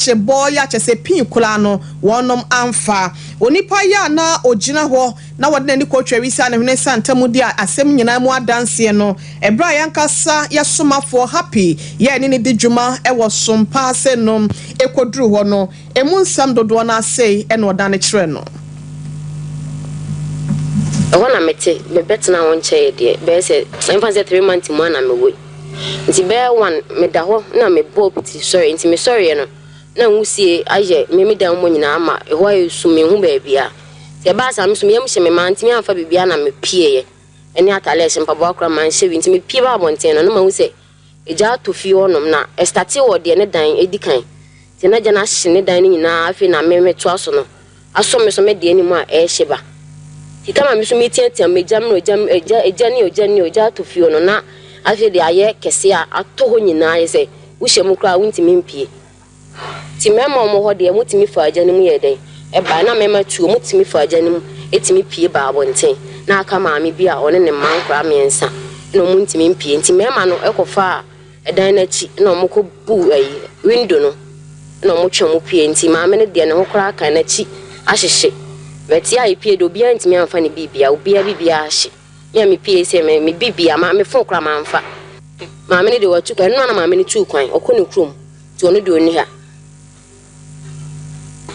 kye bɔɔ ya kyɛsɛ pii koraa no wɔnom amfa onipa ya a na ogyina hɔ na wɔde n'ani kɔ twari saa ne hwene saa ntam di asɛm nyinaa mu adanseɛ no ɛberɛ a yɛankasa yɛ somafoɔ Hapi yɛ ɛne no di dwuma wɔ som pa ase no ɛkɔduru hɔ no ɛmu nsɛm dodoɔ no ara sei na ɔdane kyerɛ no. Ɛhɔ na mete, mebɛtenaa hɔ nkyɛɛ deɛ bɛyɛ sɛ, yɛmfa no sɛ three months mu ara na mewɔ yi. Ntsi bɛyɛ one meda hɔ na mobɔɔ piti sɔree, ntsi mesɔreeɛ no na nwusie ayɛ me me dan mu nyinaa ma hɔ ayɛ sum menhu baabiaa. Ntsi ɛbaa saa me so meyam hyɛ me mantumi amfa biribiaa na mepieeɛ ɛne ataade a ɛhyɛ mpaboa koraa manhyɛ bi ntsi mepie baa abɔnten no na mahu sɛ egya atɔ fie hɔ nom na ɛstartee wɔ deɛ ne dan ɛdikan ntsi na gya no ahye ne dan no nyinaa afei na me metoa so no Asɔ me so me deɛ anim a ɛɛhye ba Sika ma me so me tia tia m'agya mmerɛ ogya agya agya ne ogya ne ogya ato fie hɔ no na afei deɛ ayɛ kɛseɛ a atɔ hɔ nyinaa ayɛ sɛ wohyɛ mu koraa wontumi mpie ti mɛma wɔn hɔ deɛ motumi fa agya no mu yɛ dɛn ɛbae na mɛma tuo motumi fa agya no mu ɛtumi pie ba abɔnten na aka maame bi a ɔne ne mma nkoraa mmiɛnsa na wɔn ntumi mpie nti mɛma no ɛkɔ fa a dan no akyi na wɔkɔ bu ɛyi window no na wɔn twɛn mu pue nti maame no deɛ ne ho koraa kan n'akyi ahyehye bɛte a yɛpue deɛ obiara ntumi anfa ne biribia obiara biribia ahye me a mepue sɛ me me biribia ma me fon koraa manfa maame no deɛ watu kwan ɛno na maame no tuu kwan ɔkɔ ne kurom nti ɔno deɛ ɔni ha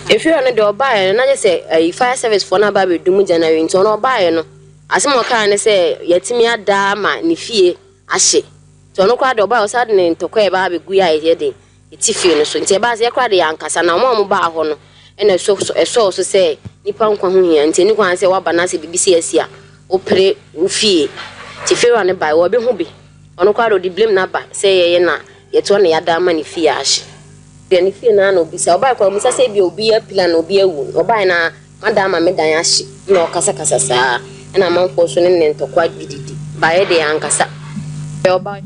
efiri hɔ no deɛ ɔbaeɛ no na gye sɛ ɛyi fire service foɔ no aba abɛdum January nti ɔno ɔbaeɛ no asɛm ɔkaa ne sɛ yɛtumi adaa ma ne fie ahye. Nti ɔno koraa deɛ ɔbaeɛ ɔsan de ne ntɔkwa a ɛbaa abɛguiɛ a ɛyɛ den ɛti fie no so. Nti ɛbaa sɛ yɛ koraa deɛ yɛankasa na wɔn a wɔbaa hɔ no na ɛsɔ so ɛsɔɔ so sɛ nnipa nkwa ho hia nti ɛni kwan sɛ woaba na sɛ biribi sei asi a wopere wo fie. Nti Farah no baeɛ wɔbɛhu bi. Ɔno koraa deɛ ɔde blame no aba sɛ yɛyɛ na yɛtoa na yɛada ama ne fie ahye. Deɛ ne fie no ara na ɔbisa. Ɔbaeɛ koraa ɔmmisa sɛ ebia obi apira no obi awu. Ɔbaeɛ no ara M'ada ama me dan ahye, ɛna ɔkasakasa saa, ɛna amanfoɔ nso ne ne ntɔkwa dididi, baeɛ deɛ ankasa deɛ ɔbaeɛ.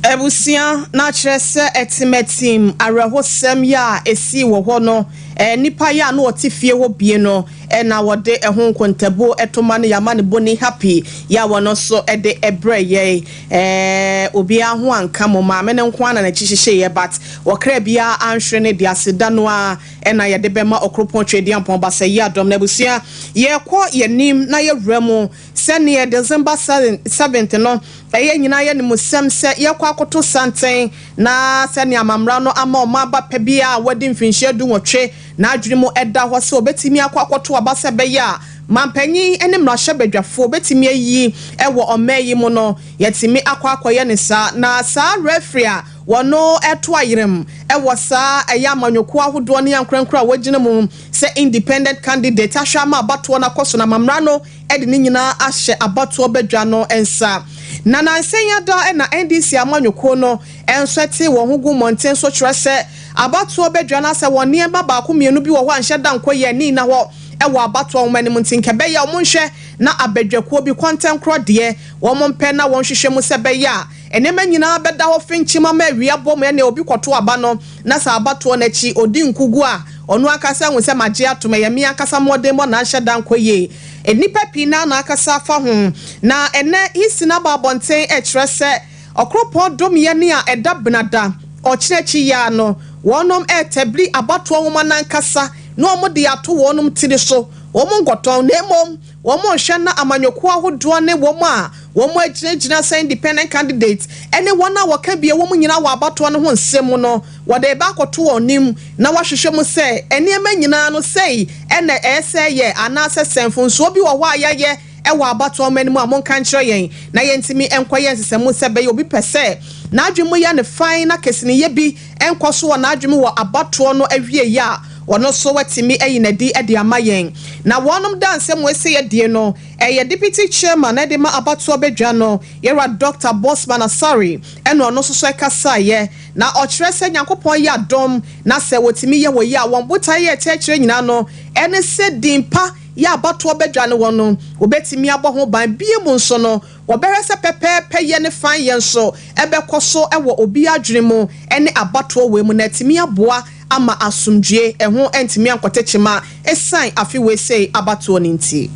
Abusua no akyerɛ sɛ ɛtematim awerɛhosɛm yɛ a ɛsii wɔ hɔ no, nnipa yɛ a na wɔte fie hɔ bie no na wɔde ɛho nkontabuo to ma no, yɛama no Boni Happy yɛ a wɔno nso de brɛɛ yɛn. Obiara ho anka mo, maame no nko ara na n'akyi hyehyeeɛ but ɔkra biara anhwere ne deɛ, aseda no ara. na yɛde bɛma Ɔkoropɔn Tweaduampɔn Basayiadɔm no abusua. Yɛrekɔ yɛn anim na yɛawura mu. Sɛdeɛ December seventh no ɛyɛ nyinaa yɛ animsɛm sɛ yɛrekɔ akɔto santen na sɛdeɛ amammara no ama ɔman ba pɛ biara a wadi mfinhyia du nwɔtwe na adwene mu da hɔ sɛ ɔbɛtumi akɔ akɔto aba sɛ ɛbɛyɛ a manpanyin ne mmarahyɛbadwafoɔ bɛtumi ayi wɔ ɔman yi mu no, yɛatumi akɔ akɔyɛ no saa. Na saa referee a Wɔto ayerɛm wɔ saa ɛyɛ amanyɔkuo ahodoɔ ne ankorankoro a wɔagyina mu sɛ independent candidate ahwɛ ama abatoɔ no akɔ so na ama mmara no de ne nyinaa ahyɛ abatoɔ badwa no nsa. Na nansa yi ara na NDC amanyɔkuo no nso ɛtee wɔn ho guu mmɔnten so kyerɛ sɛ abatoɔ badwa no asɛ wɔn nneɛma baako mmienu bi wɔ hɔ a nhyɛ da nkɔ yie a ɛnni nna hɔ wɔ abatoɔ nwoma no mu nti nka ɛbɛyɛ a wɔnhwɛ na abadwakuo bi kɔntɛnkorɔ deɛ wɔmpɛ na wɔnhwehwɛ mu sɛ ɛbɛyɛ a Nneɛma nyinaa bɛda hɔ fenkye ma ma awia bɔ mu ɛnneɛ obi kɔto aba no na sɛ aba toɔ no akyi ɔdi nkugu a ɔno ankasa ahu sɛ magye atom, ɛyɛ me ankasa mmɔdemmɔ na anhyɛ da ankɔ yie. Nnipa pii na na akasa afa ho. Na ɛnnɛ Hisinn aba abɔnten rekyerɛ sɛ ɔkoropɔn dom yɛ ne a ɛda benada ɔkyena akyi yi ara no wɔnom retabli abatoɔ nwoma no ankasa na wɔde ato wɔnom tiri so, wɔn nkɔtɔn na mmom wɔn rehwɛ na amanyɔkuo ahodoɔ ne wɔn a wɔagyinagyina sɛ independent candidates ne wɔn a wɔka bi wɔ mu nyinaa wɔ abatoɔ no ho nsɛm mu no, wɔde reba akɔto wɔn anim na wɔahwehwɛ mu sɛ nneɛma nyinaa no sei na ɛyɛ sɛ ɛyɛ anaasɛ sɛ mfomsoɔ bi wɔ hɔ a yɛayɛ wɔ abatoɔ mma no mu a monka nkyerɛ yɛn na yɛntumi nkɔyɛ nsesɛmu sɛ ɛbɛyɛ obi pɛ sɛ n'adwene mu yɛ no fann na kesiniyɛ bi nkɔ so wɔ n'adwene mu wɔ abatoɔ no awieeɛ a, ɔno nso watumi ayi no adi de ama yɛn. Na wɔnom daa nsɛm wei sɛ yɛdie no, ɛyɛ Deputy Chairman ɛde ma abatoɔ badwa no, Yɛwura Dɔkta Bossman Asare, ɛna ɔno nso so ɛkasaeɛ. Na ɔkyerɛ sɛ Nyankopɔn yɛ adom, na sɛ wɔtumi yɛ wei a, wɔn botaeɛ yɛ ɛkyɛ kyerɛ nyinaa no, ɛne sɛ din pa yɛ abatoɔ badwa no wɔ no, wɔbɛtumi abɔ ho ban. Bio mu nso no, Wɔbɛhwɛ sɛ pɛpɛɛpɛ yɛ ne fan yɛ nso bɛkɔ so wɔ obi adwene mu ne abatoɔ wei mu na atumi aboa ama asomdwoeɛ ɛho antumi ankɔte kyema ɛsiane afe wei sei abatoɔ no nti.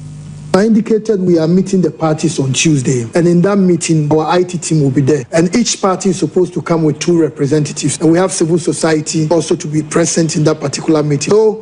I indicated we are meeting the parties on Tuesday and in that meeting our IT team will be there and each party is supposed to come with two representatives and we have civil society also to be present in that particular meeting so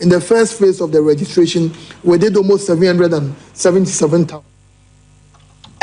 in the first phase of the registration, we did almost 777,000.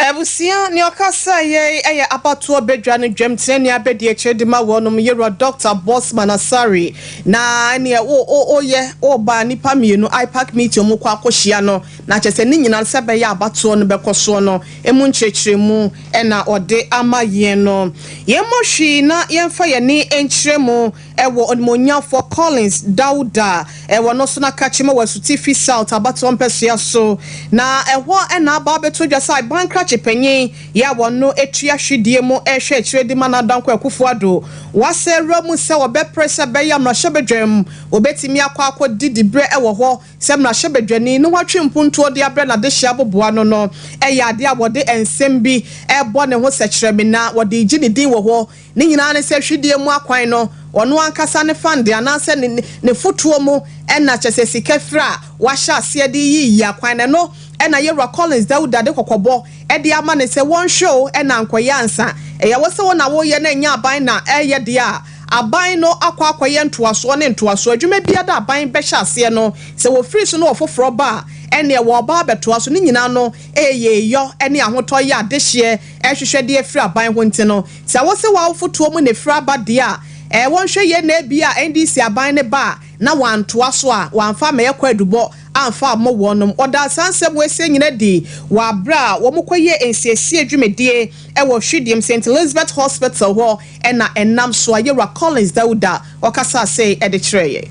Abusua ne ɔkasa yei yɛ abatoɔ badwa no dwam tena ni abɛdi akyire de ma wɔnom yewura Doctor Bosman Asare na ɛneɛ wo o o yɛ o ba nipa mmienu IPAC meeting ɔmo kɔ akɔ hyia no na kyɛ sɛ ne nyina no sɛ bɛyɛ abatoɔ no bɛkɔ soɔ no emu nkyerɛkyerɛ mu ɛna ɔde ama yɛn no yɛn mɔ hwii na yɛn fa yɛn ne nkyerɛ mu wɔ Onimonyamfoɔ Collins Dawda wɔ no so na Kakyima wɔ Asutifi South abatoɔ mpɛsoa so na ɛhɔ na aba abɛto dwa sɛ Aban krakye panyin yɛ a wɔno tua hwedeɛ mu hwɛ akyire de ma Nadankwa Akufo Addo wasa awura mu sɛ ɔbɛpere sɛ ɛbɛyɛ a mmarahyɛbadwam ɔbɛtumi akɔ akɔ di diberɛ wɔ hɔ sɛ mmarahyɛbadwani na watwe mpuntuo de abrɛ n'adehyeɛ aboboa no no yɛ adeɛ a wɔde nsɛm bi bɔ ne ho sɛkyerɛmena wɔde regye ne din wɔ hɔ. Ne nyinaa ne sɛ hwedeɛ mu akwan no ɔno ankasa ne fande anaasɛ ne ne fotoɔ mu na kyerɛ sɛ sika firi a wahyɛ aseɛ de yi yi akwan no ɛno na yɛwura Collins Dawuda de kɔkɔbɔ de ama no sɛ wɔnhwɛ o na ankɔyɛ ansa ɛyɛ wo sɛ wo na woyɛ na ɛnyɛ aban na ɛreyɛ deɛ a aban no akɔ akɔyɛ ntoasoɔ ne ntoasoɔ adwuma biara da aban bɛhyɛ aseɛ no sɛ wɔfiri so na ɔfoforɔ ba a ɛneɛ wɔreba abɛtoa so ne nyinaa no ɛyɛ yɔ ne ahotɔ yɛ adehyeɛ ɛhwehwɛ de afiri aban ho nti no, sɛ wose w'awofo toɔ mu na ɛfiri aba deɛ a, ɛɛ wɔnhwɛ yie na ebia NDC aban no ba a na wɔantoa so a wɔamfa ammɛyɛ kwaadubɔ amfa ammɔ wɔnom. Wɔdaa saa nsɛm weisie nyina adi wɔ aberɛ a wɔkɔyɛɛ nsiesie dwumadie wɔ Hwidiam Saint Elizabeth Hospital hɔ na ɛnam so a Yewura Collins Dauda ɔkasaa sei de kyerɛeɛ.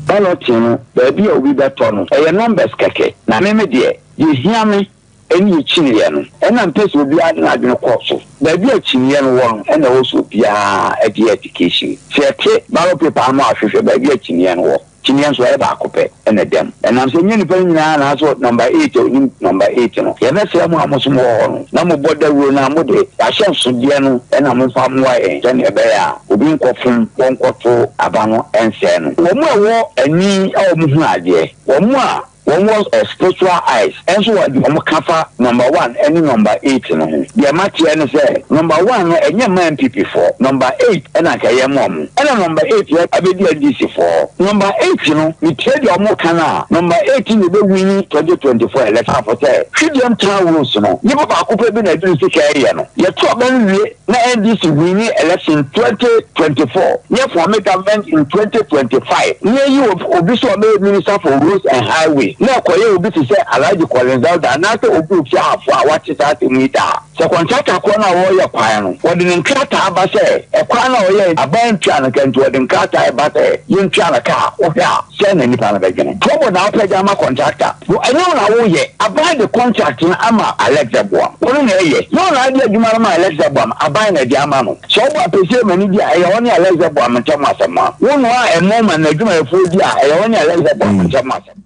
Balloting no baabi a obi bɛtɔ no ɛyɛ numbers kɛkɛ na me me deɛ deɛ ɛhia me Ɛnna akyinyeɛ no, ɛnna mpɛ sɛ obiara de n'adwene kɔ so. Baabi a akyinyeɛ no wɔ no, ɛnna ɛwɔ sɛ obiara de yɛ application. Sɛ yɛte ballot paper ano a, hwehwɛ baabi a akyinyeɛ no wɔ. Kyinyeɛ nso, ɛyɛ baako pɛ na ɛda mu. Ɛnam sɛ ɛnyɛ nnipa no nyinaa na asɔ number eight a ɔnim number eight no, yɛbɛsrɛ mo a mo nso mowɔ hɔ no na mobɔ dawuro no a, mo de, ahyɛnsodeɛ no na momfa mmoa yɛn sɛdeɛ ɛbɛyɛ a obi nkɔfom hɔ nkɔto aba no nsɛe no. Wɔn a ɛwɔ ani a wɔhunu adeɛ, wɔn a Wɔwɔ spiritual eyes nso wɔ deɛ wɔn ka fa number one ɛne number eight no ho. Deɛ mateɛ ne sɛ number one no ɛnyɛ mma NPP foɔ, number eight ɛna anka ɛyɛ mma wɔn. Ɛna number eight yɛ abɛdi NDC foɔ. Number eight no metie deɛ wɔn ka no a, number eight na ɛbɛ wini twenty twenty four election. Afɔ sɛ Twidiem town rules no, nnipa baako pɛ bi na ɛde ne sika ɛyɛ no. Yɛto aba no wie na NDC winii election in twenty twenty four, yɛ forme government in twenty twenty five, na yɛyi obi sɛ ɔbɛyɛ minister for roads and highway, na ɛkɔyɛ obi te sɛ Alhaji Collins Dauda anaasɛ obi a ofi Ahafo a wate saa asɛm yi da. Sɛ contractor korɔ no a ɔreyɛ kwan no, wɔde ne nkrataa ba sɛ ɛkwan no a ɔyɛɛ, aban ntua no ka nti wɔde nkrataa ba sɛ yɛntua no ka a, wohwɛ a, sɛn na nipa no bɛdwene? Trouble na wopɛ de ama contractor? Wo ɛnyɛ wo na woyɛ, aban de contract no ama Alex Abuam, ɔno na ɛyɛ, nyɛ wo na ade adwuma no ma Alex Abuam, aban na ɛde ama no. Sɛ wobɔ apɛsie ma no di a, ɛyɛ ɔne Alex Abuam ntam asɛm a, wonoa ɛmo ma n'adwumayɛfoɔ di a, ɛyɛ ɔne Alex Abuam ntam asɛm.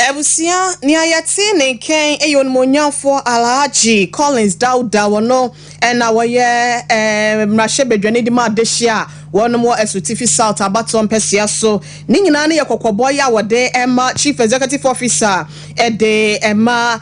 Abusua, nea yɛtee ne nken yɛ Onimuonyamfoɔ Alhaji Collins Dauda, wɔno na wɔyɛ Mmarahyɛbadwani de ma adehye a wɔnom wɔ Asutifi South abatoɔ mpɛsea so. Ne nyinaa no yɛ kɔkɔbɔ yɛ a wɔde ma Chief Executive Officer de ma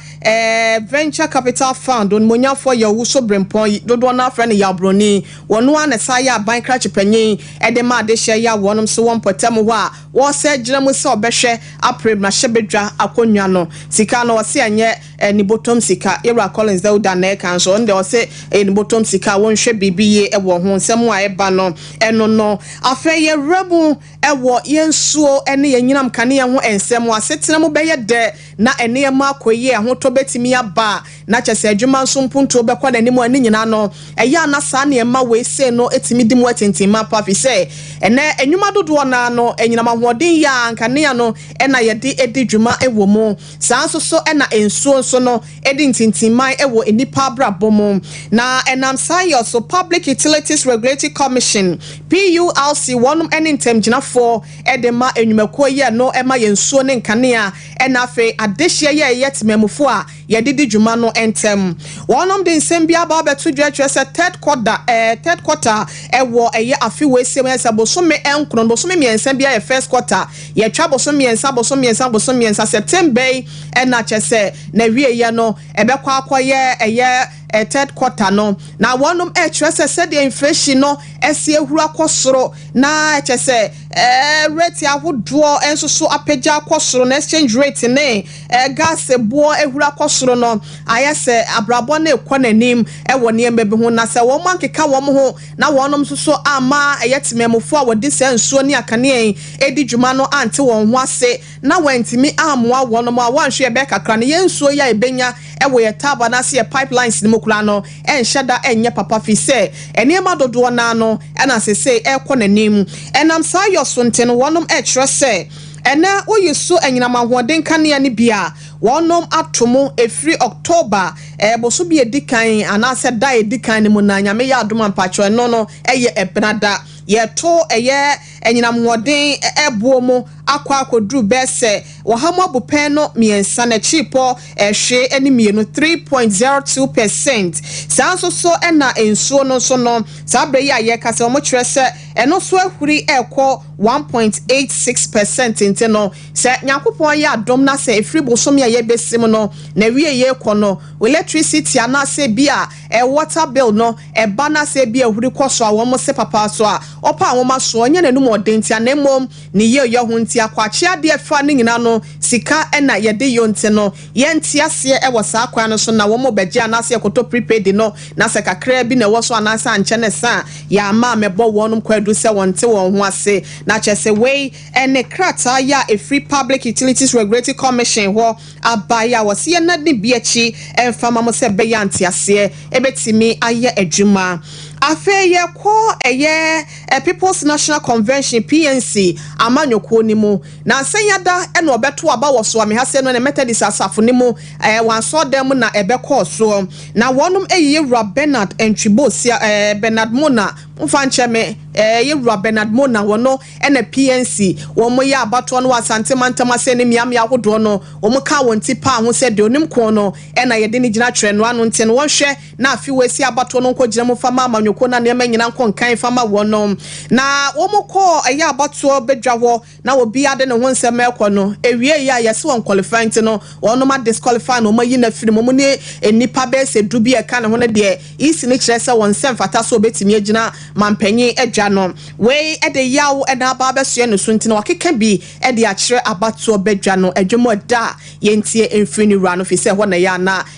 Venture Capital Fund, Onimuonyamfoɔ Yaw Wuso Brempong, dodoɔ no ara frɛ no Yaw Broni. Wɔno ara na ɛsan yɛ Aban Krakye Panyin de ma adehyeɛ yɛ a wɔnom nso wɔ mpɔtam hɔ a Wɔsɛ gyina mu sɛ ɔbɛhwɛ apere mmrahyɛbadwa akonnwa no sika no ɔse ɛnyɛ ne bɔtɔm sika yɛwura Collins Dauda na ɛka nso ɔno deɛ ɔse ɛyɛ ne bɔtɔm sika wɔnhwɛ biribi yie wɔ ho nsɛm a ɛba no ɛno no afei yɛwura mu wɔ yɛn nsuo ne yɛn nyinam kaneɛ ho nsɛm asetena mu bɛyɛ dɛ na nneɛma akɔ yie ahotɔ bɛtumi aba Na kyɛ sɛ adwuma nso mpuntuo bɛkɔ n'anim a, ne nyinaa no, ɛyɛ a na saa nneɛma wei sei no tumi di mu atintim mapa, firi sɛ ɛnnɛ nnwuma dodoɔ no ara no, anyinam ahoɔden yɛ a nkanea no na yɛde di dwuma wɔ mu. Saa ara nso so na nsuo nso no di ntintimman wɔ nnipa abrabɔ mu. Na ɛnam saa yɔ so, Public Utilities Regulatory Commission, PURC, wɔnom ne ntamgyinafoɔ de ma nnwumakuo yi a ɛno ma yɛn nsuo ne nkanea, na afei adehyeɛ yɛ ɛyɛ temanmufoɔ a, yɛde di dwuma no ntam. Wɔnom de nsɛm bi aba abɛto dwa kyerɛ sɛ third quarter eh, third quarter ɛwɔ ɛyɛ afe wei sɛ wɛn sɛ bosome nkron no bosome mmiɛnsa bi ayɛ first quarter yɛtwa bosome mmiɛnsa bosome mmiɛnsa bosome mmiɛnsa September yi ɛna kyɛ sɛ na wie yɛ no ɛbɛkɔ akɔ yɛ ɛyɛ eh, third quarter no na wɔnom ɛkyerɛ sɛ sɛdeɛ inflation no ɛsi ahuru akɔ soro na ɛkyɛ sɛ eh, rate ahodoɔ ɛnso so apagya akɔ soro na exchange rate ne Ɛrekase boɔ ahura kɔ soro no, ayɛ sɛ abrabɔ no rekɔ n'anim wɔ nneɛma bi ho, na sɛ wɔankeka wɔn ho na wɔnom nso so amma ɛyɛ temanmufoɔ a wɔde saa nsuo ne akanea yi redi dwuma no ante wɔn ho ase na wɔantumi ammoa wɔnom a, wɔanhwɛ yɛbɛyɛ kakra no, yɛn nsuo yi a yɛbɛnya wɔ yɛn taabo anaase yɛn pipelines no mu koraa no nhyɛ da nyɛ papa firi sɛ nneɛma dodoɔ no ara no na seesei ɛrekɔ n'anim. Ɛnam saa yɔ so nti no, wɔnom kyerɛ sɛ. Ɛnnɛ woyi so anyinam ahoɔden kanea no bi a wɔnom ato mu ɛfiri October ɛɛ bosome a ɛdi kan anaasɛ da a ɛdi kan no mu na Nyame yɛ adom a mpakyɛw ɛno no ɛyɛ ɛbena da. Yɛto ɛyɛ anyinam hoɔden ɛɛ boɔ mu akɔ akɔduru bɛɛ sɛ wɔha mu abupɛn no mmiɛnsa na kyiripɔ ɛɛ hwee ɛne mmienu, 3.02 per cent. Saa nso so ɛna nsuo no nso no saa berɛ yi a yɛkasa wɔkyerɛ sɛ ɛno nso ahuri ɛɛkɔ one point eight six per cent ntsi no, sɛ Nyankopɔn ayɛ adom na sɛ efir bosome a yɛbesi mu no n'ewiei rekɔ no, electricity anaasɛ bi a eh water bill no ba na sɛ bi ehuri kɔ so a wɔn se papa so a ɔpa nwoma so ɔnnyɛ n'anum ɔden ntsi ana mbom ne yieɔyɔ ho ntsi akɔakye ade a ɛfa ne nyina no sika na yɛde yɔ ntsi no Yɛ nteaseɛ ɛwɔ saa kwan no so na wɔn mo bɛgye anaase yɛ kɔtɔ prepaid no na sɛ kakraa bi na ɛwɔ so anaase ankyɛ ne sa a yɛ ama a mɛbɔ wɔnom kwaadu sɛ wɔn nte wɔn ho ase na kyɛ sɛ wei ɛne krataa yɛ a ɛfiri Public Utilities Regulatory Commission hɔ abae a wɔse yɛ nadi bi akyi ɛmfa ma mo sɛ ɛbɛyɛ a nteaseɛ ɛbɛtumi ayɛ adwuma. Afei yɛ kɔ ɛyɛ People's National Convention, PNC, amanyɔkuo no mu. Na nsanya da na ɔbɛto aba wɔ Soame ha sɛ no ne Methodist asafo no mu ɛɛ wɔn asɔɔdan mu na ɛbɛkɔɔ soɔ. Na wɔnom ɛyɛ Yɛwura Bernard Antwibo Sia ɛɛ Bernard Mona mo mfa nkyɛ me ɛɛ Yɛwura Bernard Mona wɔno ɛna PNC wɔn yɛ abatoɔ no wɔ Asante mantam ase ne mmea mmea ahodoɔ no wɔn kaa wɔn ti paa ho sɛ deɛ ɔnim kɔn no ɛna yɛde no gyina twerɛ no ano nti no wɔn hwɛ na afe wɔ esi abatoɔ no nkɔ gyina mu fa ma amanyɔkuo no a nneɛma nyina nkɔ nkan fa ma wɔn no. Na wɔn kɔɔ ɛyɛ abatoɔ badwa hɔ na obiara de ne ho nsɛm rekɔ no ɛwieɛ a yɛse wɔn qualify nti no wɔnom a disqualify no wɔn ayi no afiri mu, wɔn ne nnipa bɛyɛ sɛ du bi a ɛka ne ho no deɛ ec no kyerɛ sɛ wɔn nsa mfata sɛ wɔbɛtumi agyina manpanyin adwa no. Wei de yaw na aba abɛsoɛ ne so nti na wɔakeka bi de akyerɛ abatoɔ badwa no adwam ɛda a yɛntie mfiri ne wura no firi sɛ ɛhɔ na ɛyɛ a na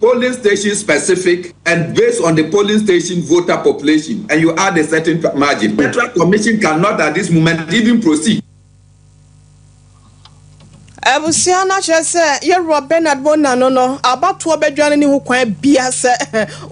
polling station specific and based on the polling station voter population and you add a certain margin, the Electoral Commission cannot at this moment even proceed. Abusua no akyerɛ sɛ Yɛwura Bernard Bonano no abatoɔ badwa no nni ho kwan bia sɛ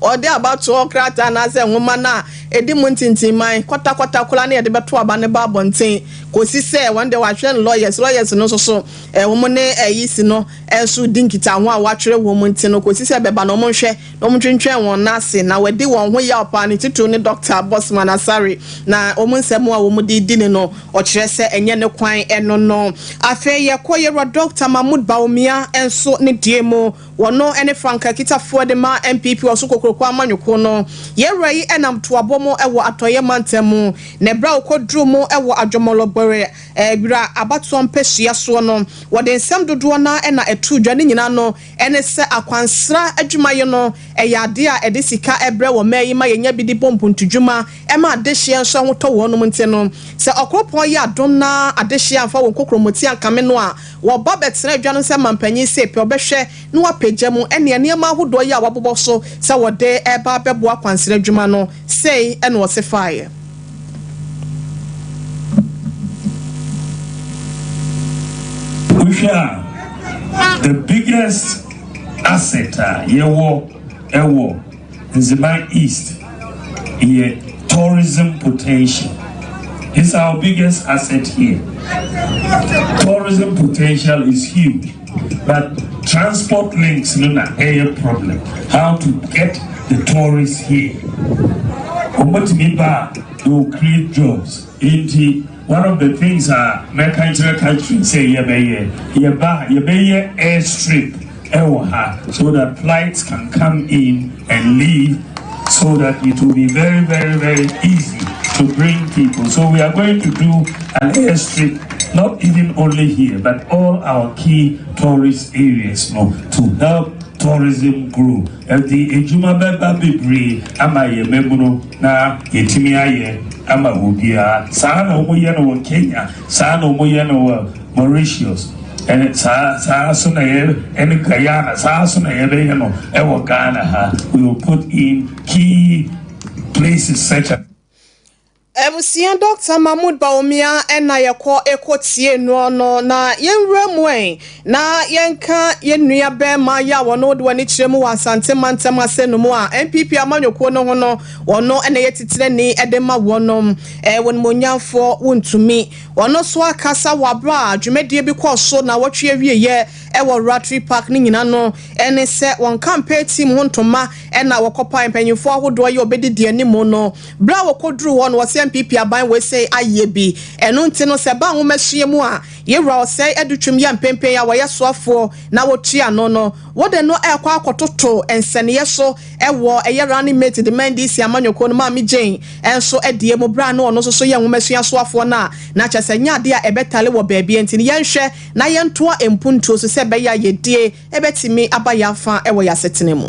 ɔde abatoɔ krataa anaasɛ nwoma no a ɛdi mu ntintimman kwatakwataa koraa na yɛde bɛto aba no ba abɔnten kɔsi sɛ wɔn deɛ wɔahwɛ no lawyers, lawyers no nso so wɔn ne ayi si no nso di nkitaho a wɔatwerɛ wɔn nti no kɔsi sɛ bɛba na wɔnhwɛ na wɔntwentwɛn wɔn nan ase na wɔadi wɔn ho yaw paa, ne titiriw ne Dɔkta Bosman Asare, na wɔn nsɛm a wɔde redi no no, ɔkyerɛ sɛ ɛnyɛ ne kwan no no. Afei yɛkɔ Yerewa Dɔkta Mahmood Bawumia nso ne deɛ mu, wɔno ne Frank Akitafoɔ de ma NPP Ɔso Kokroko Amanyɔkuo no. Yerewa yi nam Toabɔ mu wɔ Atɔeɛ Mantam mu, na berɛ a ɔkɔduruu mu wɔ Adwɔmɔlɔgbɔre, Wira abatoɔ mpasua soɔ no, wɔde nsɛm dodoɔ no ara na ɛtoo dwa, ne nyinaa no ne sɛ akwansra adwumayɛ no yɛ adeɛ a ɛde sika brɛ wɔ mmaa yi ma yɛnya bi de bɔ mpontudwuma ma adehyeɛ nso ahotɔ wɔnom nti no sɛ ɔkoropɔn yɛ adom na adehyeɛ amfa wɔn kokromoti ankame no a wɔba bɛtena adwa no sɛ mampanyin se pɛ ɔbɛhwɛ na wapagya mu ɛne nneɛma ahodoɔ yi a wɔabobɔ so sɛ wɔde reba abɛboa akwansra adwuma no Sei na ɔse faeɛ. Wohwɛ a, the biggest asset a yɛwɔ wɔ Nzeman East yɛ tourism potential. It's our biggest asset here. Tourism potential is huge. But transport links no na ɛyɛ problem how to get the tourists here wɔn bɛtumi ba a they will create jobs nti one of the things a mɛka nkyerɛ country sɛ yɛbɛyɛ yɛba yɛbɛyɛ air strip ɛwɔ ha so that flights can come in. and Lee so that it will be very very very easy to bring people so we are going to do an air strip not even only here but all our key tourist areas no to help tourism grow ɛdi edwuma bɛba bebree ama yɛ mɛmuno na yɛtumi ayɛ ama obiara saa na wɔn yɛ no wɔ Kenya saa na wɔn yɛ no wɔ. Mauritius, ɛne saa saa ara nso na yɛ ɛne Guyana, saa ara nso na yɛbɛyɛ no wɔ Ghana ha, we will put in key places such as. Abusua Doctor Mahmoud Bawumia na yɛkɔ kɔ tie noɔ no na yɛn nwura mu ɛ na yɛnka yɛn nua bɛɛma yɛ a wɔn wode wɔn ani kyerɛ mu wɔ Asante mantam asɛ no mu a NPP amanyɔkuo no ho no wɔn na yɛ titire ni de ma wɔnom ɛ wɔn monyamfoɔ wontumi Ɔno nso akasa wɔ bere a dwumadie bi kɔɔ so nnawɔtwe awieeɛ wɔ Ratri Park no nyina no ne sɛ wɔn campaign team ho ntoma na wɔkɔpae mpanyinfoɔ ahodoɔ yɛ ɔbɛdidi anim no berɛ a wɔkɔduruu hɔ no wɔse NPP aban wei sei ayɛ bi ɛno nti no sɛ ɛba nwomasua mu a yewura ɔsɛe adutwam yɛ mpempen a wɔyɛ soafoɔ na wɔtua no no wode no rekɔ akɔtoto nsɛneɛ so Ɛwɔ ɛyɛ running mate de ma NDC amanyɔkuo no Maame Jane nso deɛ mu berɛ a na ɔno nso so yɛ nwoma suasoafoɔ no a na kyerɛ sɛ ɛnyɛ adeɛ a ɛbɛtale wɔ baabiara nti no yɛnhwɛ na yɛntoa mpuntuo so sɛ ɛbɛyɛ a yɛdie bɛtumi aba yɛn afa wɔ yɛn asetena mu.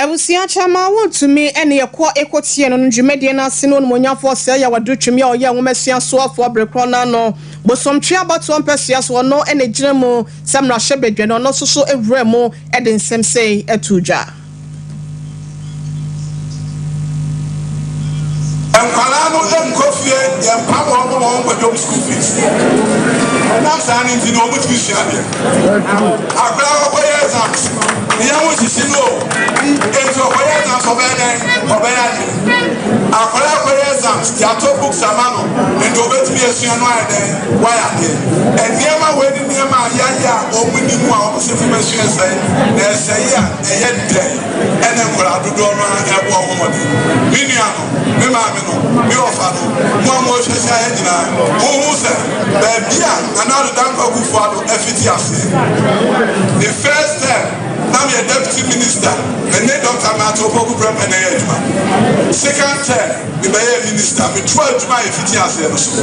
Abusua kyɛ ma wontumi ne yɛn kɔ ekotie no no dwumadie no ase no Onimuonyamfoɔ Ɔsɛe Yaw Adutwem yɛ ɔyɛ nwoma suasoɔfoɔ bere korɔ no ano bosomtwe abatoɔ mpɛsoa so ɔno na ɛgyina mu sɛ mmarahyɛ badwa no ɔno nso wuraa mu de nsɛm sei too dwa. Nkwadaa no nkɔ fie, yɛmpa wɔn ma wɔn nkɔ dwom school fees. Ɛnam saa no nti na wɔn tumi sua adeɛ. Akwadaa wɔkɔyɛ exams, ne yɛn ho sisi no o. Nti wɔkɔyɛ exams ɔbɛyɛ dɛn? Ɔbɛyɛ adeɛ. Akwadaa kɔyɛ exams, yɛato books ama no, nti wɔbɛtumi asua no ayɛ dɛn? Wɔayɛ adeɛ. Nneɛma wei ne nneɛma a yɛayɛ a wɔn nni mu a wɔn sɛ fam asua sɛe na ɛsɛe a. Ɛyɛ dɛn na nkwadaa dodoɔ no ara rebɔ ho mmɔden? Me nuanom, me maame no, me wɔfa no, mo a morehwɛ hyɛ ha nyinaa, honhu sɛ baabi a Nana Addo Dankwa Akuffo Addo fiti aseɛ? Ne first term na meyɛ Deputy Minister, me ne Doctor Marthe Opoku Prempeh na ɛyɛ adwuma. Second term, me bɛyɛɛ Minister, me toaa adwuma a yɛfiti aseɛ no so.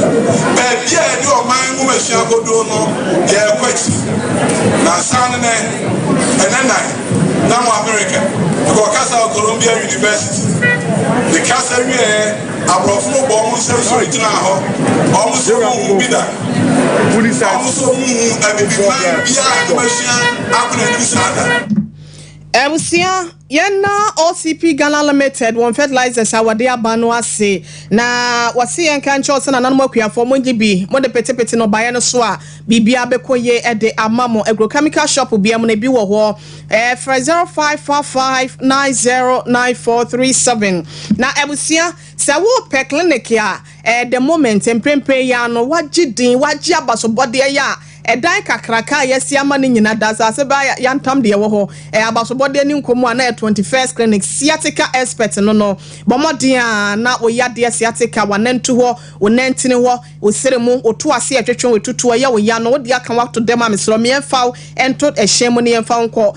Baabi a yɛde ɔman nwomasua kɔduro no, yɛrekɔ akyiri. Na ansa ne nɛ. Ɛnɛnan na wɔ Amerika. Mekɔɔ Casao Columbia University. Me kasa wieɛ, aborɔfo no bɔɔ wɔn nsam sɔre gyinaa hɔ. Wɔn nso wɔnhu bi da. Wɔn nso wɔnhu Abibiman biara a na wasua akɔneanim saa da. Abusua. Yɛnna OCP Ghana Limited wɔn fertilizers a wɔde aba no ase, na wɔse yɛnka nkyerɛ wo sɛ nananom akuafoɔ mongye bi, mode petepete nnɔbaeɛ no so a biribiara bɛkɔ yie de ama mo. Agrochemical shop biara mu no ebi wɔ hɔ. Frɛ 0555 909437. Na abusua, sɛ wopɛ clinic a. At the moment, mprempren yi ara no, wɔagye din, wɔagye abasobɔde, ɛyɛ a ɛdan kakraka a yɛasi ama no nyina da asase bɛ a yɛantam deɛ ɛwɔ hɔ, ɛyɛ abasobɔde ani nkɔ mu a na ɛyɛ 21st Clinic, sciatica expert no no, bɔ mmɔden a na wo yadeɛ sciatica, w'anantu hɔ, wo nantini hɔ, wo sere mu, wo to ase ɛtwetwe wo, ɛtutu, ɛyɛ wo ya no, wode aka wo ato dɛm a mesrɛ wo, me yɛmfa wo nto ɛhyɛn mu na yɛmfa wo nkɔ.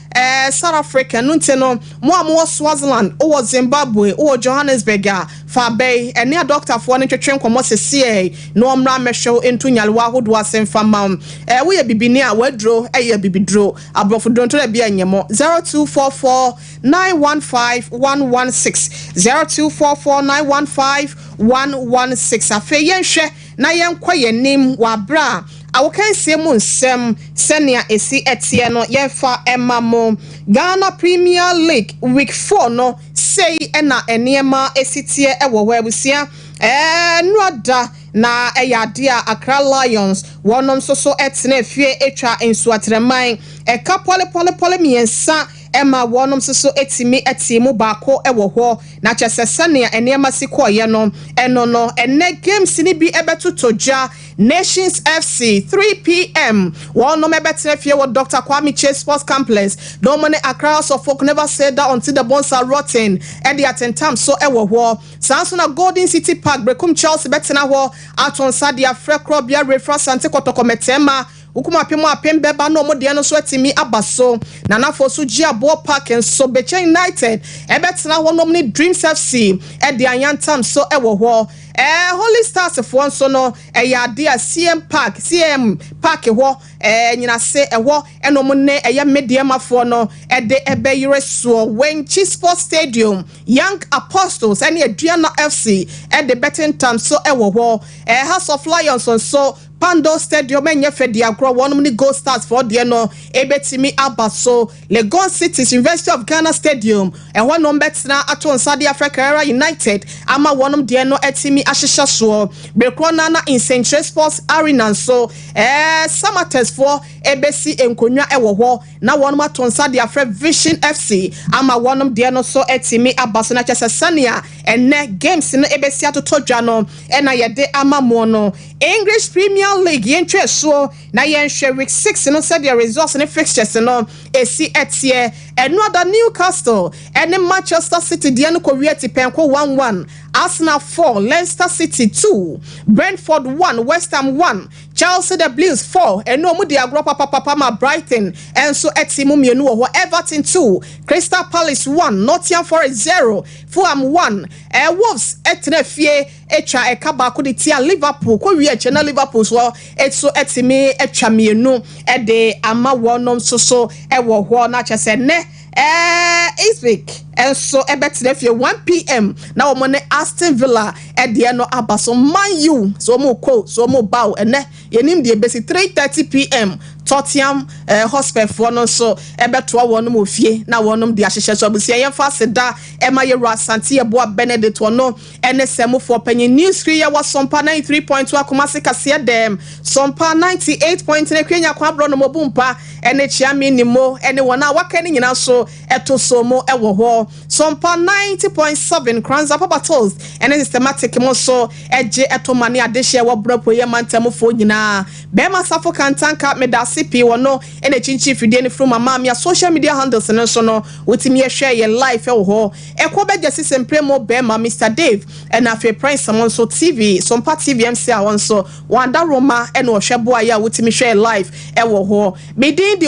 Ɛɛ South Africa, ɛno nti no mo a mowɔ Swaziland, wowɔ Zimbabwe, wowɔ Johannesburg a, fa bɛ yi, ɛne adɔkotafoɔ no ntwetwe nkɔmmɔ seseɛɛi na wɔmmra mmɛhwɛ wo nto nyarewa ahodoɔ ase mfa mma wo. Ɛɛ woyɛ bibini a, w'aduro yɛ abibiduro, aborɔfo duro ntora bi nyɛ mɔ. 0244 915 116, 0244 915 116, afei yɛnhwɛ. na yɛnkɔ yɛn anim wɔ bere a awokansie mu nsɛm sɛnea esi teɛ no yɛmfa mma mo. Ghana Premier League Week Four no, sei na nneɛma si teɛ wɔ hɔ abusua. Nnora da na ɛyɛ ade a Accra Lions wɔnom nso so tenaa fie twa nsuateraman ɛka pɔlepɔlepɔle mmiɛnsa ɛma wɔnom nso so tumi tee mu baako wɔ hɔ. Na kyerɛ sɛ sɛnea nneɛma si kɔeɛ no, ɛno no, ɛnnɛ games no bi bɛtotɔ gya, Nations FC, 3PM, wɔnom bɛtena fie wɔ Doctor Kwame Kyei Sports Complex, na wɔn ne Accra House of Folk Never Say Die Until the Bones Are Rotten de atentam so wɔ hɔ. Saa nso na Golden City Park, Berekum Chelsea bɛtena hɔ ato nsa de afrɛ korɔbea Refrah Asante Kɔtɔkɔ Mɛtɛɛma, Wokum apem mu apem bɛba na wɔn deɛ no nso atumi aba so. Nanafoɔ nso gye aboɔ park nso. Bekyɛ United bɛtena hɔnom ne Dreams FC de ayantam nso wɔ hɔ. Ɛɛ Holy Stars foɔ nso no, ɛyɛ adeɛ a CM Park, CAM park hɔ, ɛɛ Nyinase ɛhɔ na wɔn ne ɛyɛ Medeɛmafoɔ no de bɛyere soɔ. Wenchi Sports Stadium, Young Apostles ne Aduana FC de bɛtentam nso wɔ hɔ. Ɛɛ Hearts of Lions nso. Pandor Stadium ɛnyɛ fɛ de agorɔ, wɔnom ne Gold Stars foɔ deɛ no ɛbɛtumi aba so. Legon City's University of Ghana Stadium, ɛhɔ na wɔbɛtena ato nsa de afrɛ Karara United ama wɔnom deɛ no atumi ahyehyɛ soɔ. Bere korɔ no ara na Nsɛnkyerɛ Sports Arena nso, ɛɛ Samatex foɔ ɛbɛsi nkonnwa ɛwɔ hɔ na wɔnom ato nsa de afrɛ Vision FC ama wɔnom deɛ no nso atumi aba so. Na kyerɛ sɛ sɛnea ɛnnɛ games no ɛbɛsi atotɔ dwa no na yɛde ama moɔ no. English Premier League yɛntwa asuo na yɛnhwɛ week six no sɛdeɛ results ne fixtures no ɛsi teɛ. Ɛno ada Newcastle ɛne Manchester City deɛ no kɔwie atipɛnko one one, Arsenal four, Leicester City two, Brentford one, West Ham one, Chelsea the Blues four ɛno ɔmo di agorɔ papapapa ma Brighton nso ɛte mu mmienu wɔ hɔ, Everton two, Crystal Palace one, Nottingham Forest zero, Fulham one, Wolves ɛtena fie. twa ɛka baako de tia Liverpool kɔ wie akyɛ na Liverpool nso so tumi twa mmienu de ama wɔn nso so wɔ hɔ na kyɛ sɛ nnɛ Ipswich nso bɛtena fie 1pm na wɔn ne Aston Villa deɛ no aba so Man U so wɔn kɔ so wɔn ba o ɛnɛ yɛnim deɛ bɛsi 3:30pm Tottenham Hotspur foɔ no nso bɛtoa wɔn wɔ fie na wɔn de ahyehyɛ so abusua yɛmfa aseda ɛma yɛwura Asante Yeboah Benedict wɔn Ɛne sɛ Mufoɔ Panyin News Firi yɛwɔ Sompa ninety three point two Akumase Kaseɛ Dɛm, Sompa ninety eight point three Kwenya Kwabrɔ no Mobu Mpa ne Kyeame Nimmo ne wɔn a wɔaka no nyinaa nso to so mo wɔ hɔ. Sompa ninety point seven Kranza Papa Toast ne Systematic mo nso gye to ma ne adehyeɛ a ɛwɔ Borɔ Apueeɛ Mantamufoɔ nyinaa. Bɛɛma Safo Kantanka meda ase pii wɔ no na ɛkyinkyin fidie no firi mu ama me a social media handles no nso no wotumi hwɛ yɛn live wɔ hɔ. Ɛkɔ bɛ gyɛsi se mpre mo bɛ ma Mister Dave ɛna afei Prince mo nso TV so mpa TV mse a ɔnso wɔn adaworo ma ɛna ɔhwɛ boa yɛ a wotimi hwɛɛ live ɛwɔ hɔ me din de.